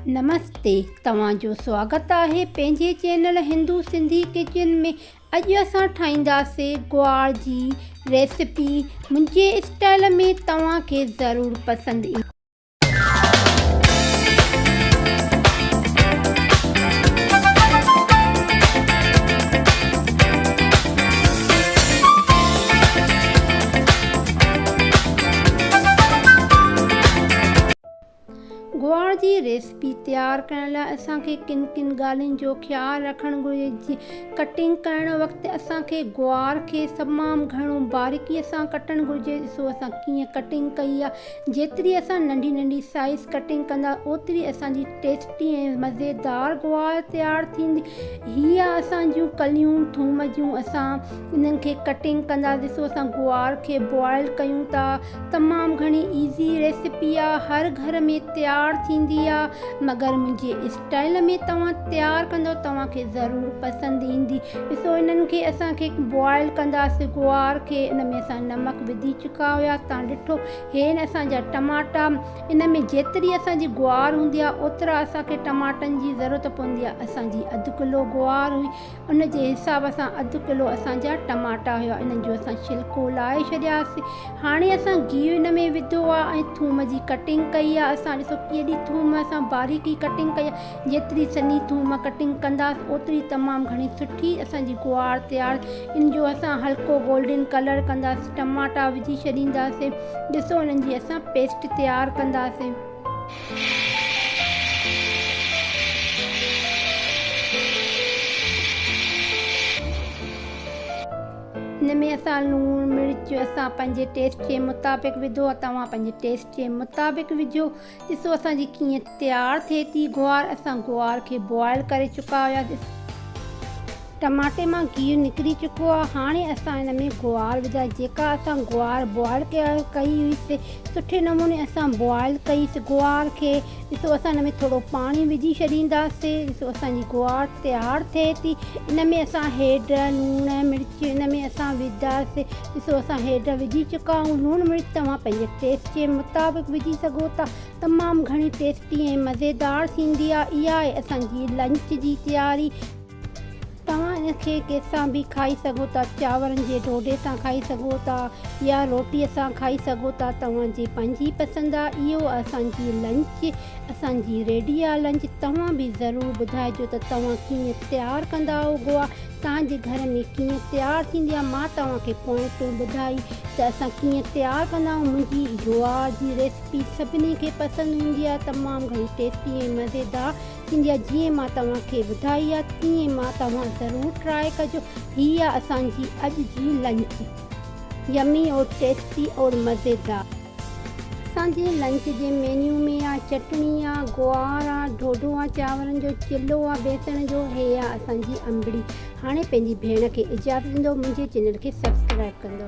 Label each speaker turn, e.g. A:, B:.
A: نمستي توهان جو سواگت آهي پنهنجي چينل هندو سنڌي ڪچن ۾ اڄ اسان ٺاهينداسي گوار جي ريسيپي منهنجي اسٽائل ۾ توهان کي ضرور پسند ايندي. گوار جي ريسپي تيار ڪرڻ لاء اسان کي ڪن ڪن ڳالهين جو خيال رکڻ گهرجي. ڪٽنگ ڪرڻ وقت اسان کي گوار کي تمام گهڻو باريڪي سان ڪٽڻ گهرجي. ڏسو اسان ڪيئن ڪٽنگ ڪئي آهي. جيتري اسان ننڍي ننڍي سائيز ڪٽنگ ڪندا اوتري اسان جي ٽيسٽي ۽ مزيدار گوار تيار ٿيندي. هي آهي اسان جون ڪليون ٿوم جون اسان انهن کي ڪٽنگ ڪندا ڏسو اسان گوار کي بوائل ڪيون ٿا. تمام گهڻي ايزي ريسيپي آ هر گهر ۾ تيار ٿيندي آ مگر منهنجي اسٽائيل ۾ توهان تيار ڪندو توهان کي ضرور پسند ايندي ڏسو انهن کي اسان کي بوائل ڪنداسي گوار کي ان ۾ اسان نمڪ وڌي چڪا هياس تان ڏٺو هي آهن اسان جا ٽماٽا ان ۾ جيتري اسان جي گوار هوندي آ اوترا اسان کي ٽماٽن جي ضرورت پوندي آ اسان جي اڌ ڪلو گوار هئي ان جي حساب سان اڌ ڪلو اسان جا ٽماٽا هيا انهن جو اسان ڇلڪو لاهي ڇڏياسين هاڻي اسان گيهه ان ۾ وڌو آهي ۽ ٿوم جي ڪٽنگ ڪئي آهي اسان ڏسو ڪيڏي ٿوم اسان باريڪي ڪٽنگ ڪئي آهي جيتري سنهي ٿوم ڪٽنگ ڪنداسين اوتري تمام گهڻي سٺي اسان جي گوار تيار ان جو اسان هلڪو گولڊن ڪلر ڪنداسين ٽماٽا وجهي ڇڏينداسين ڏسو انهن جي اسان پيسٽ تيار ڪنداسين. هن ۾ اسان لوڻ مرچ اسان پنهنجي ٽيسٽ جي مطابق وڌو ۽ توهان پنهنجي ٽيسٽ جي مطابق وجهو ڏسو اسان جي ڪيئن تيار ٿئي ٿي گوار اسان گوار کي بوائل ڪري چڪا هياسين. ٽماٽي مان گيهه نڪري چڪو آهي هاڻي اسان ان ۾ گوار وجهائي جيڪا اسان گوار بوائل ڪئي هئي سي سٺي نموني اسان بوائل ڪئي سي گوار کي ڏسو اسان ان ۾ ٿورو پاڻي وجهي ڇڏيندا سي ڏسو اسان جي گوار تيار ٿئي ٿي ان ۾ اسان هيڊ لوڻ مرچ ان ۾ اسان وجهندا سي ڏسو اسان هيڊ وجهي چڪا آهيون لوڻ مرچ توهان پنهنجي ٽيسٽ جي مطابق وجهي سگهو ٿا تمام گهڻي ٽيسٽي ۽ مزيدار ٿيندي آهي اها آهي اسان جي لنچ جي تياري. توهان ان کي ڪنهن سان به کائي سگهو ٿا، چانورن جي ڍوڍي سان کائي سگهو ٿا يا روٽي سان کائي سگهو ٿا، توهان جي پنهنجي پسند آ. اهو آ اسان جي لنچ، اسان جي ريڊي آ لنچ. توهان به ضرور ٻڌائجو ته توهان ڪيئن تيار ڪندا آهو گوا توهان جي گهر ۾ ڪيئن تيار ٿيندي آ. مان توهان کي پوائنٽون ٻڌائي ته اسان ڪيئن تيار ڪندا آهيون. منهنجي گوا جي ريسپي سڀني کي پسند هوندي آ، تمام گهڻي ٽيسٽي ۽ مزيدار. انڊيا جيئن مان توهان کي ٻڌائي آ تيئن مان توهان ضرور ٽرائي ڪجو هي آ اسان جي اڄ جي لنچ يمي اور ٽيسٽي اور مزيدار. اسان جي لنچ جي مينيو ۾ آ چٽڻي آ گوار آ ڍوڍو آ چانورن جو چلو آ بيسڻ جو هي آ اسان جي انبڙي هاڻي پنهنجي ڀيڻ کي اجازت ڏيندو منهنجي چينل کي سبسڪرائب ڪندو.